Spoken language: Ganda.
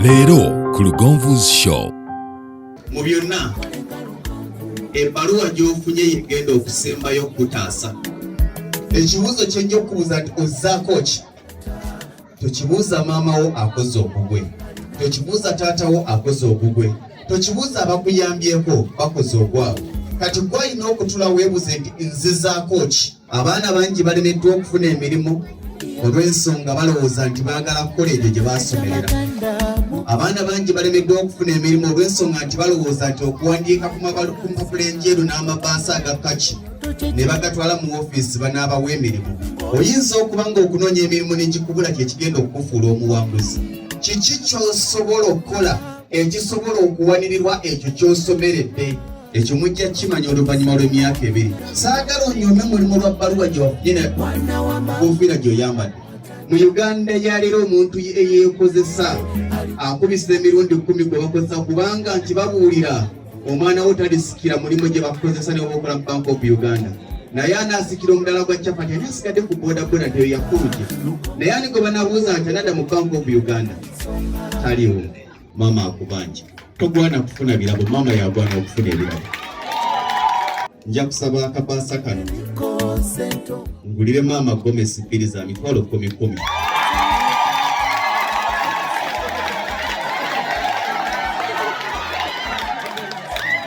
leero ku lugonvu's show mu byonna ebbaluwa gy'ofunye yegenda okusembayo okukutaasa ekibuuzo kyojja okubuuza nti ozzaako ki tokibuuza maama wo akoze ogugwe tokibuuza taata wo akoze ogugwe tokibuuza abakuyambyeko bakoze ogwabwe kati gwalina okutula weebuze nti nzizaako ki abaana bangi balemeddwa okufuna emirimu olw'ensonga balowooza nti baagala kukola ebyo gye baasomerera abaana bangi balemeddwa okufuna emirimu olw'ensonga nti balowooza nti okuwandiika ku mpapula enjeru n'amabaasa aga kaki ne bagatwala mu ofiisi banaabawa emirimu oyinza okuba ng'okunoonya emirimu n'egikubula kye kigenda okukufuula omuwanguzi kiki ky'osobola okukola ekisobola okuwanirirwa ekyo ky'osomeredde ekyo mujja kimanya oluvannyuma lw'emyaka ebiri saagala onyome mulimu lwa bbaluwa gyewafunye kufiira gy'oyambadde mu uganda yaleero omuntu eyeekozesa akubisa emirundi kumi gwe bakozesa kubanga nti babuulira omwana wo talisikira mulimu gye bakozesa ne oba okola mu bank of uganda naye anasikira omudala gwa chapati ani asigadde ku bodaboda nteyo yakuluja naye ani gwe banabuuza nti anada mu bank of uganda taliwo maama akubanja togwana kufuna birabo maama yagwana okufuna ebirabo nja kusaba akabaasa kano ngulire maama gomesi bbiri za mitwalo kumi kumi